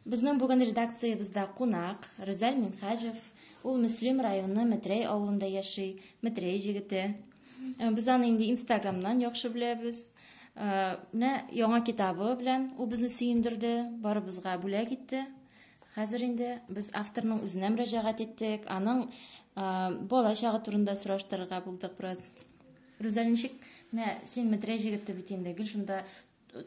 Безнең бүген редакциябездә кунак Рүзәл Минхаҗев. Ул Мөслим районы Метрәй авылында яши, Метрәй җегете. Э, без аны инде Инстаграмнан яхшы беләбез. Э, менә яңа китабы белән ул безне сөендерде, барыбызга бүләк итте. Хәзер инде без авторның үзенә мөрәҗәгать иттек, аның э, бала чагы турында сораштырырга булдык бераз. Рүзәл ничек? Менә син Метрәй җегете бит инде, гел шунда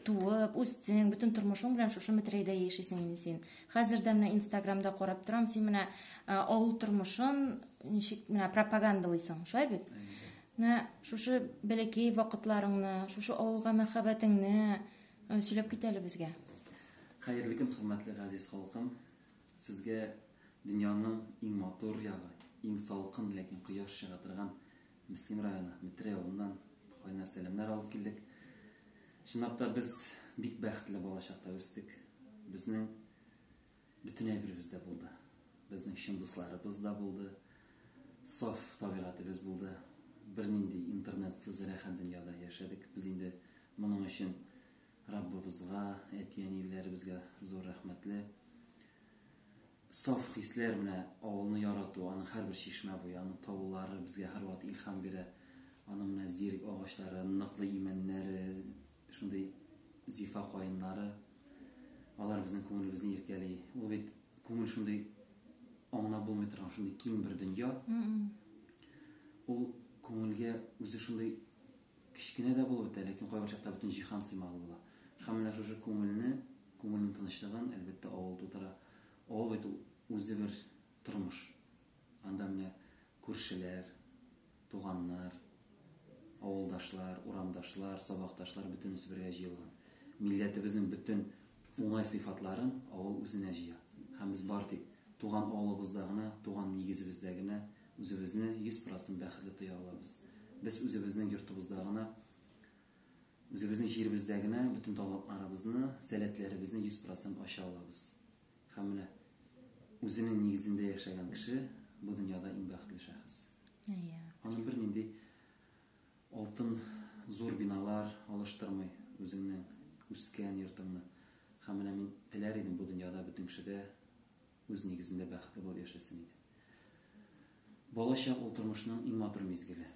туып, үстең, бөтен тормышың белән шушы Метрәйдә яшисең инде син. Хәзер дә менә Инстаграмда карап торам, син менә авыл тормышын ничек менә пропагандалыйсың, шулай бит? Менә шушы бәләкәй вакытларыңны, шушы авылга мәхәббәтеңне сөйләп кит әле безгә. Хәерле көн, хөрмәтле газиз халкым. Сезгә дөньяның иң матур ягы, иң салкын, ләкин кояш чыга торган Мөслим районы Метре авылыннан кайнар сәламнәр алып килдек. Чынлап та без бик бәхетле балачакта үстек. Безнең бөтен әйберебез дә булды. Безнең чын дусларыбыз да булды. Саф табигатебез булды. Бернинди интернетсыз рәхәт дөньяда яшәдек. Без инде моның өчен Раббыбызга, әти-әниләребезгә зур рәхмәтле. Саф хисләр менә авылны ярату, аның һәрбер чишмә буе, аның таулары безгә һәрвакыт илһам бирә. Аның менә зирек агачлары, ныклы имәннәре, шундый зифа каеннары. Алар безнең күңелебезне иркәли. Ул бит күңел шундый аңлап булмый торган шундый киң бер дөнья. Ул күңелгә үзе шундый Кечкенә дә булып бетә, ләкин кайбер чакта бөтен җиһан сыймаган була. Һәм менә шушы күңелне, күңелнең тынычлыгын, әлбәттә, авыл тудыра. Авыл бит ул үзе бер тормыш. Анда менә күршеләр, туганнар, авылдашлар, урамдашлар, сабакташлар бөтенесе бергә җыелган. Милләтебезнең бөтен уңай сыйфатларын авыл үзенә җыя. Һәм без бары тик туган авылыбызда гына, туган нигезебездә генә, Үзебезне йөз процент бәхетле тоя алабыз. Без үзебезнең йортыбызда гына, үзебезнең җиребездә генә бөтен талантларыбызны, сәләтләребезне йөз процент ача алабыз. Һәм менә үзенең нигезендә яшәгән кеше бу дөньяда иң бәхетле шәхес. Әйе. Аны бернинди алтын зур биналар алыштырмый үзеңнең үскән йортыңны. Һәм менә мин теләр идем бу дөньяда бөтен кешедә үз нигезендә бәхетле булып яшәсен иде. Балачак ул тормышның иң матур мизгеле.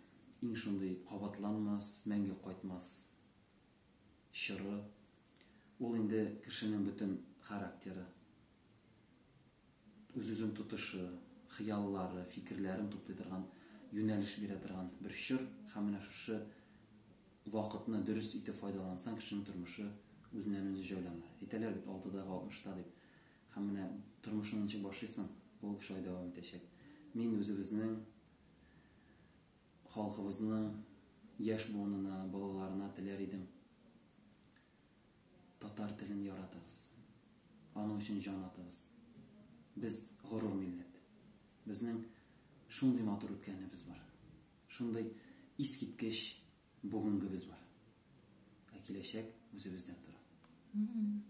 Иң шундый кабатланмас, мәңге кайтмас чоры. Ул инде кешенең бөтен характеры, үз-үзен тотышы, хыяллары, фикерләрен туплый торган, юнәлеш бирә торган бер чор. Һәм менә шушы вакытны дөрес итеп файдалансаң, кешенең тормышы үзеннән-үзе җайланыр. Әйтәләр бит, алтыдагы алтмышта дип. Һәм менә тормышыңны ничек башлыйсың, ул шулай дәвам итәчәк. Мин үзебезнең халкыбызның яшь буынына, балаларына теләр идем, татар телен яратыгыз, аның өчен җан атыгыз. Без горур милләт. Безнең шундый матур үткәнебез бар. Шундый искиткеч Бүгенгебез бар. Ә киләчәк үзебездән тора.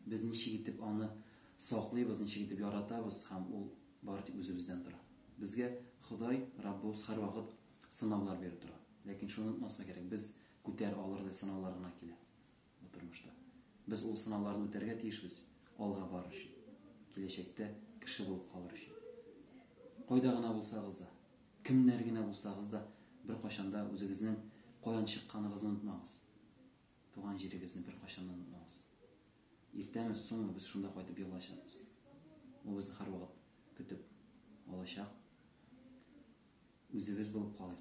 Без ничек итеп аны саклыйбыз, ничек итеп яратабыз һәм ул бары тик үзебездән тора. Безгә Ходай, Раббыбыз һәрвакыт сынаулар биреп тора. Ләкин шуны онытмаска кирәк, без күтәр алырлык сынаулар гына килә. Бу тормышта. Без ул сынауларны үтәргә тиешбез, алга барыр өчен. Киләчәктә кеше булып калыр өчен. Кайда гына булсагыз да, кемнәр генә булсагыз да, беркайчан да үзегезнең каян чыкканыгызны онытмагыз. Туган җирегезне беркайчан да онытмагыз. Иртәме, соңмы без шунда кайтып егылачакбыз. Ул безне һәрвакыт көтеп алачак. Үзебез булып калыйк.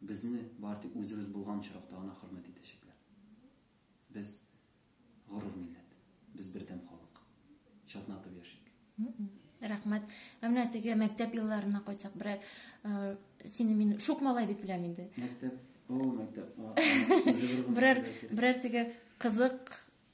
Безне бары тик үзебез булган очракта гына хөрмәт итәчәкләр. Без, горур милләт. Без бердәм халык. Чатнатып яшик. Рәхмәт. Ә менә теге мәктәп елларына кайтсак, берәр сине мин шук малай дип беләм инде. Мәктәп, о, мәктәп. Берәр берәр теге кызык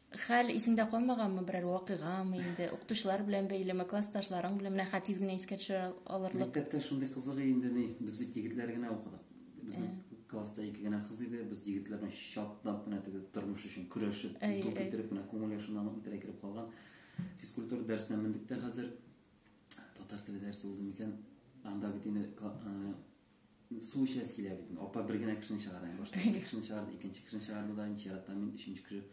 Хәл исеңдә калмаганмы берәр вакыйгамы инде? Укытучылар белән бәйлеме, классташларың белән менә хәт тиз генә искә төшерә алырлык. Мәктәптә шундый кызык инде ни, без бит егетләр генә укыдык. Безнең класста ике генә кыз иде, без егетләр белән чатнап кына теге тормыш өчен көрәшеп, ду китереп кына күңел яшыннан үтерә кереп калган. Физкультура дәресенә мендек тә хәзер. Татар теле дәресе булды микән? Анда бит инде Су эчәс килә бит. Апа бер генә кешене чыгара. Башта ике кешене чыгарды, икенче кешене чыгарды да, икенче чиратта мин өченче кеше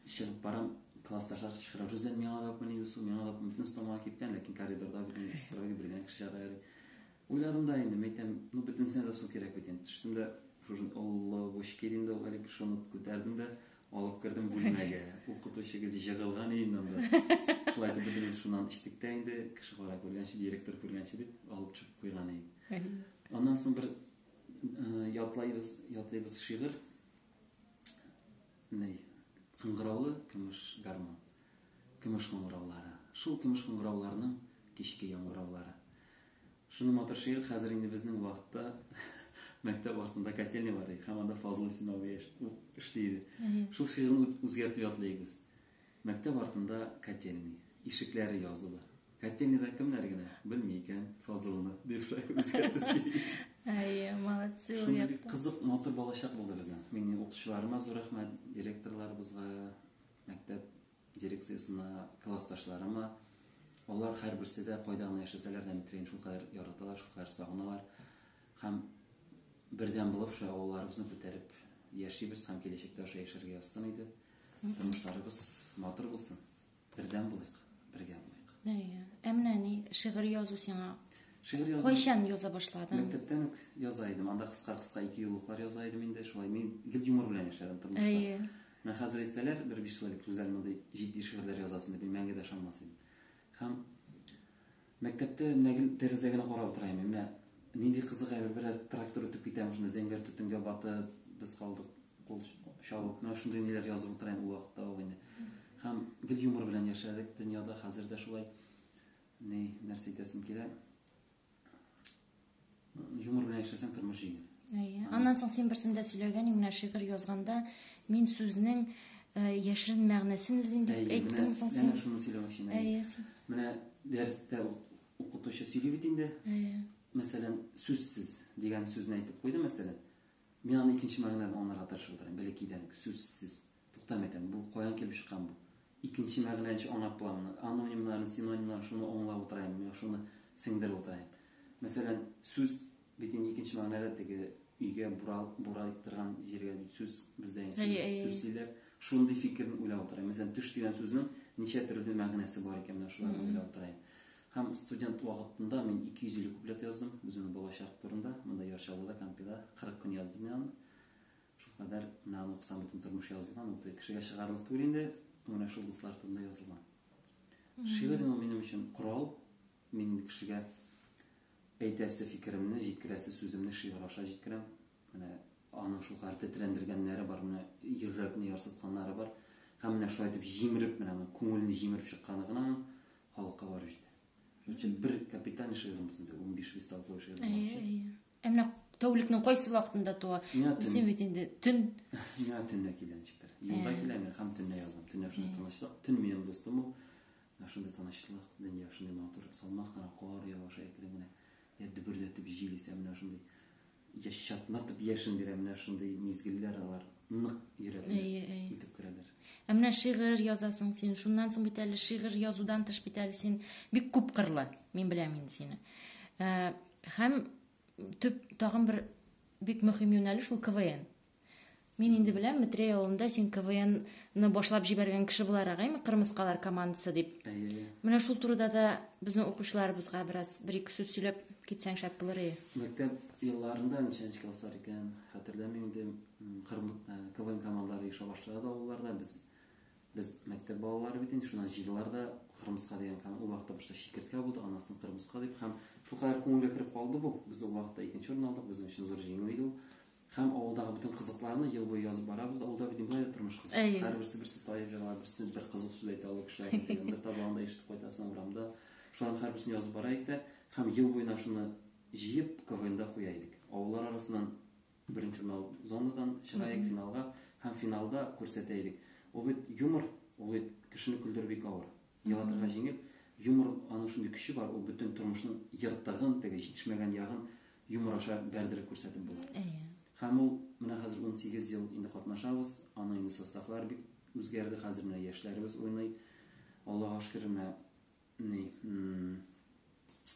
чыгып барам. Классташлар кычкыра, Рүзәл, миңа да күпме су, миңа да күпме бөтен стомага кипкән, ләкин коридорда бит инде стройга бер генә кеше чыгара әле. Уйладым да инде, мәйтәм, ну бөтенесенә дә су кирәк бит инде. Төштем дә, шушын олы бочки инде ул әле шуны күтәрдем дә, Алып кердем бүлмәгә. Укытучы гел җыгылган иде анда. Шулай итеп бөтенебез шуннан эчтек тә инде, кеше кара күргәнче, директор күргәнче дип алып чыгып куйган иде. Аннан соң бер э, ятлайбыз, ятлыйбыз шигырь. Ней, кыңгыраулы көмеш гармон. Көмеш кыңгыраулары. Шул көмеш кыңгырауларның кичке яңгыраулары. Шундый матур шигырь, хәзер инде безнең вакытта мәктәп артында котельня бар иде, һәм анда Фазыл Исмәгыйль эшли иде. Шул шигырьне үзгәртеп ятлыйк без. Мәктәп артында котельня, ишекләре язулы. Котельняда кемнәр генә белми икән Фазылны, дип үзгәртәсе. Әйе, молодцы. Шундый бик кызык, матур балачак булды безнең. Мин укытучыларыма зур рәхмәт, директорларыбызга, мәктәп дирекциясенә, классташларыма. Алар һәрберсе дә кайда гына яшәсәләр дә Метрәйне шулкадәр яраталар, шулкадәр сагыналар. Һәм бердәм булып шулай авылларыбызны күтәреп яшибез һәм киләчәктә аша яшәргә язсын иде. Тормышларыбыз матур булсын. Бердәм булыйк, бергә булыйк. Әйе. Ә менә ни шигырь язу сиңа Шигырь язу. Кайчан яза башладың? Мәктәптән үк яза идем. Анда кыска-кыска ике юллыклар яза идем инде. Шулай мин гел юмор белән яшәдем тормышта. Әйе. Менә хәзер әйтсәләр, бер биш человек Рүзәл мондый җитди шигырьләр язасың дип, мин мәңге дә ышанмас идем. Һәм мәктәптә менә гел тәрәзә генә карап утыра идем. Менә нинди кызык әйбер, берәр трактор үтеп китә, шунда зәңгәр төтенгә батып, без калдык, кул чабып. Менә шундый ниләр язып утыра идем ул вакытта ул инде. Һәм гел юмор белән яшәдек дөньяда, хәзер дә шулай. Ни, нәрсә әйтәсем килә? юмор белән яшәсәң тормыш җиңел әйе аннан соң син берсендә сөйләгән менә шигырь язганда мин сүзнең э, яшерен мәгънәсен эзлим дип әйттең соң син менә шуны сөйләмәкче әйе менә дәрестә укытучы сөйли бит инде әйе мәсәлән сүзсез дигән сүзне әйтеп куйды мәсәлән мин аны икенче мәгънәдән аңларга тырышып утырам бәләкәйдән сүзсез Туктам әйтәм, бу каян килеп чыккан бу? Икенче мәгънәнче анап буламыни? Анонимнарны, синонимнарны шуны аңлап утыраеммы, я шуны сеңдереп утыраем? Мәсәлән, сүз бит инде икенче мәгънәдә теге өйгә бура, бура торган җиргә бит сүз бездә инде сүз, әй, сүз диләр. Шундый фикерне уйлап утыраем. Мәсәлән, төш дигән сүзнең ничә төрле мәгънәсе бар икән, менә шуларны уйлап утыраем. Һәм студент вакытында мин 250 куплет яздым, үземнең балачак турында, монда Яр Чаллыда, Кампида 40 көн яздым мин аны. Шулкадәр менә аны укысаң бөтен тормыш язылган, ул кешегә чыгарлык түгел инде, менә шул дуслар турында язылган. Шигырь ул минем өчен корал, мин кешегә әйтәсе фикеремне, җиткерәсе сүземне шигырь аша җиткерәм. Менә аның шулкадәр тетрәндергәннәре бар, менә йөрәкне ярсытканнары бар. Һәм менә шулай итеп җимереп, менә моның күңелне җимереп чыкканы гына халыкка барып җитә. Өчен бер капитальный шигырыбыз инде, 15 листовой шигырыбыз. Ә менә тәүлекнең кайсы вакытында туа? Син бит инде төн. Миңа төнлә килә ничектер. Юлда э. килә мин һәм төнлә язам. Төнлә шундый э. тынычлык, төн минем дустым ул. Шундый тынычлык, дөнья шундый матур, салмак кына кар явыша әкрен генә. Я дөбердәтеп җил исә менә шундый яшь чатнатып яшен бирә менә шундый мизгелләр алар нык йөрәкне итеп керәләр. Ә менә шигырь язасың син, шуннан соң бит әле шигырь язудан тыш бит әле син бик күп кырлы. Мин беләм инде сине. Э, Һәм төп тагын бер бик мөһим юнәлеш ул КВН. Мин инде беләм, Метрей авылында син КВНны башлап җибәргән кеше буларак, әйме, Кырмыскалар командасы дип. Әйе. Менә шул турыда да безнең укучыларыбызга бераз бер ике сүз сөйләп китсәң шәп булыр иде. Мәктәп елларында ничәнче класслар икән, хәтерләмим инде. Кырым КВН командалары оеша башлады авылларда. Без Без мәктәп балалары бит инде, шуннан җыйдылар да кырмыска дигән кан. Ул вакытта башта чикерткә булды, аннан соң кырмыска дип һәм шулкадәр күңелгә кереп калды бу. Без ул вакытта икенче урын алдык, безнең өчен зур җиңү иде ул. Һәм авылдагы бөтен кызыкларны ел буе язып барабыз да, авылда бит болай да тормыш кызык. Һәрберсе берсе таеп җырлар, берсе бер кызык сүз әйтә ул кешеләр дигән. Бер табагында ишетеп кайтасың урамда. Шуларның һәрберсен язып бара идек тә һәм ел буена шуны җыеп КВНда куя идек. Авыллар арасыннан Беренче финал зонадан чыгаек финалга һәм финалда күрсәтәелек. Ул бит юмор, ул бит кешене көлдерү бик авыр. Елатырга җиңел. Юмор аның шундый көче бар, ул бөтен тормышның ертыгын, теге җитешмәгән ягын юмор аша бәрдереп күрсәтеп була. Һәм ул менә хәзер унсигез ел инде катнашабыз, аның инде составлары бик үзгәрде, хәзер менә яшьләребез уйный. Аллага шөкер, менә Ни,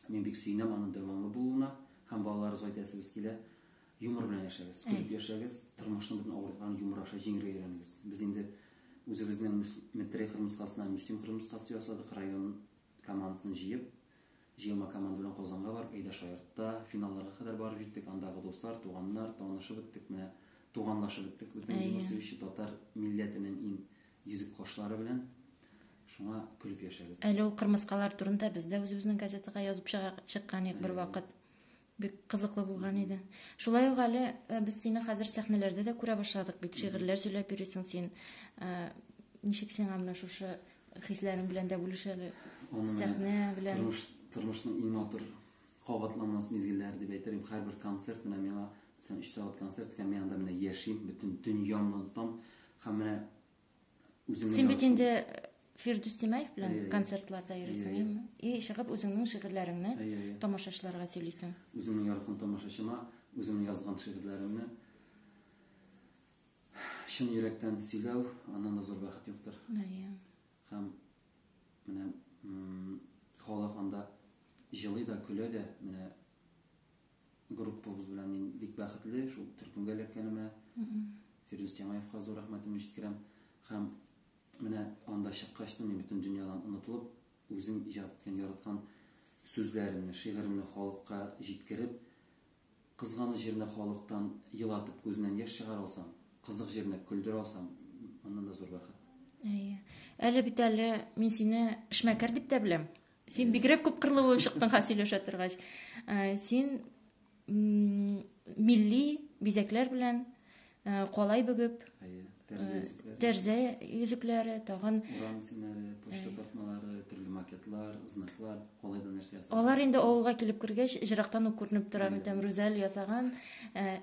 мин бик сөенәм аның дәвамлы булуына һәм балалар зайдәсебез килә. Юмор белән яшәгез, көлеп яшәгез, тормышның бөтен авырлыкларын юмор аша җиңергә өйрәнегез. Без инде үзебезнең Метрей кырмыскасына Мөслим кырмыскасы ясадык, район командасын җыеп, җыелма команда белән Казанга барып, әйдә шаяртта, финалларга кадәр барып җиттек. Андагы дуслар, туганнар, танышып беттек, менә туганлашып беттек. Безнең юмор сөюче татар милләтенең иң Йөзек кашлары белән шуңа көлеп яшәгез. Әле ул кырмыскалар турында без дә үзебезнең газетага язып чыккан идек бер вакыт. Бик кызыклы булган иде. Шулай ук әле э, без сине хәзер сәхнәләрдә дә күрә башладык бит. Шигырьләр сөйләп йөрисең син. Э, ничек сиңа менә шушы хисләрең белән дә бүлешәле? Сәхнә белән. Тормыш, тормышның иң матур кабатланмас мизгелләр дип әйтер идем. Һәрбер концерт менә миңа, мәсәлән, 3 сәгать концерт икән, мин анда менә яшим, бөтен дөньямны онытам һәм менә үземне Син бит инде Фирдүс Тимаев белән концертларда йөрисең, әйеме? И чыгып үзеңнең шигырьләреңне тамашачыларга сөйлисең. Үземнең яраткан тамашачыма үземнең язган шигырьләремне чын йөрәктән сөйләү, аннан да зур бәхет юктыр. Әйе. Һәм Менә халык анда җылый да, көлә дә. Менә группабыз белән мин бик бәхетле шул төркемгә эләккәнемә. Фирдүс Тямаевка зур рәхмәтемне җиткерәм. Һәм менә анда чыккач та мин бөтен дөньядан онытылып, үзем иҗат иткән, яраткан сүзләремне, шигыремне халыкка җиткереп, Кызганыч җиренә халыктан елатып күзеннән яшь чыгара алсаң, кызык җиренә көлдерә алсаң, моннан да зур бәхет. Әйе. Әле бит әле мин сине эшмәкәр дип тә беләм. Син бигрәк күп кырлы булып чыктың ха сөйләшә торгач. Ә, син милли бизәкләр белән Э, калай бөгеп тәрзә йөзекләре тагын урам исемнәре почта тартмалары төрле макетлар знаклар калайда нәрсә ясалган алар инде авылга килеп кергәч җырактан ук күренеп тора мәтәм рүзәл ясаган э,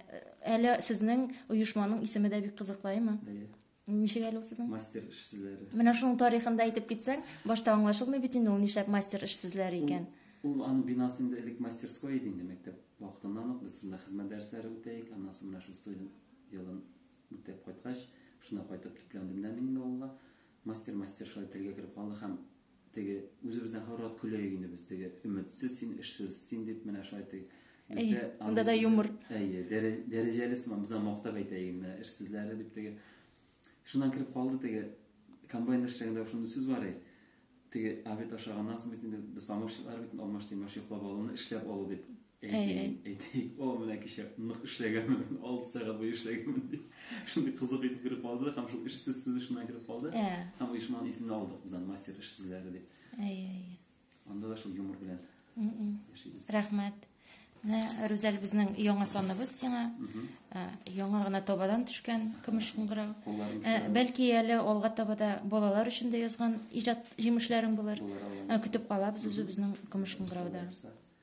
әле сезнең оешманың исеме дә бик кызыклаймы ничек әле ул сезнең мастер эш сүзләре менә шуның тарихын да әйтеп китсәң башта аңлашылмый бит инде ул нишләп мастер эш сүзләре икән ул аның бинасы инде элек мастерской иде инде мәктәп Вакытыннан ук без шунда хезмәт дәресләре үтәек, аннан соң менә шестой елын үтәп кайткач, шунда кайтып төпләндем дә мин инде авылга. Мастер, мастер шулай телгә кереп калды һәм теге үзебездән һәрвакыт көләек инде без, теге өметсез син, эшсез син дип менә шулай теге бездә анда да юмор. Әйе, дәрәҗәле сыман, без аны мактап әйтәек инде, эшсезләре дип теге Шуннан килеп калды теге комбайн эшчәгендә шундый сүз бар и, теге обед ашаганнан соң бит инде без помощниклар бит алмаш тимаш йоклап алуны эшләп алу дип әйтик о менә кичә нык эшләгәнмен алты сәгать буе эшләгәнмен дип шундый кызык итеп кереп калды һәм шул эшсез сүзе шуннан килеп калды һәм оешманың исемен алдык без аны мастер эшсезләре дип Анда да шул юмор белән яшибез. Рәхмәт. Менә Рүзәл безнең яңа саныбыз сиңа. Ә, Яңа гына табадан төшкән көмеш кыңгырау. Кулларың Ә, төшә. Бәлки әле алга таба да балалар өчен дә язган иҗат җимешләрең булыр. Булыр, алла Ә, Көтеп калабыз үзебезнең көмеш кыңгырауда. Булса.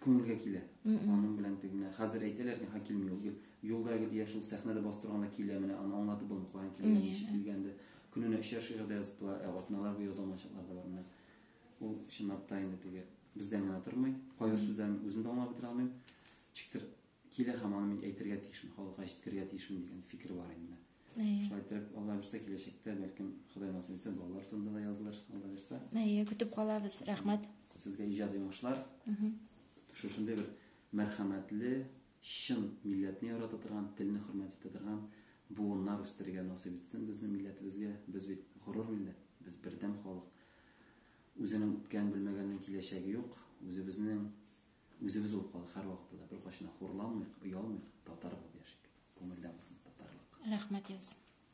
күңелгә килә. Аның белән теге менә хәзер әйтәләр, һа килми ул. Юлда гел я шул сәхнәдә бастырганда килә менә, аны аңлатып булмый куян килгән, ничек килгәнде. Көненә өчәр шигырь дә язып була, ә атналар буе яза алмаячаклар да бар менә. Ул чынлап та инде теге бездән генә тормый. Кайбер сүзләрен үзем дә аңлап бетерә алмыйм. Чиктер килә һәм аны мин әйтергә тиешмен, халыкка җиткерергә тиешмен дигән фикер бар инде. Шулай итеп, Алла бирсә киләчәктә, бәлкем, Ходай насыйп итсә, балалар турында да язылыр, Алла бирсә. Әйе, көтеп калабыз. Рәхмәт. Сезгә иҗади уңышлар. Шушындый бер мәрхәмәтле, чын милләтне ярата торган, телне хөрмәт итә торган буыннар үстерергә насыйп итсен безнең милләтебезгә. Без бит горур милләт, без бердәм халык. Үзенең үткән белмәгәннең киләчәге юк. Үзебезнең Үзебез булып калдык һәрвакытта да, беркайчан да хурламыйк, оялмыйк, татар булып яшик. Күңелдә булсын татарлык. Рәхмәт язсын.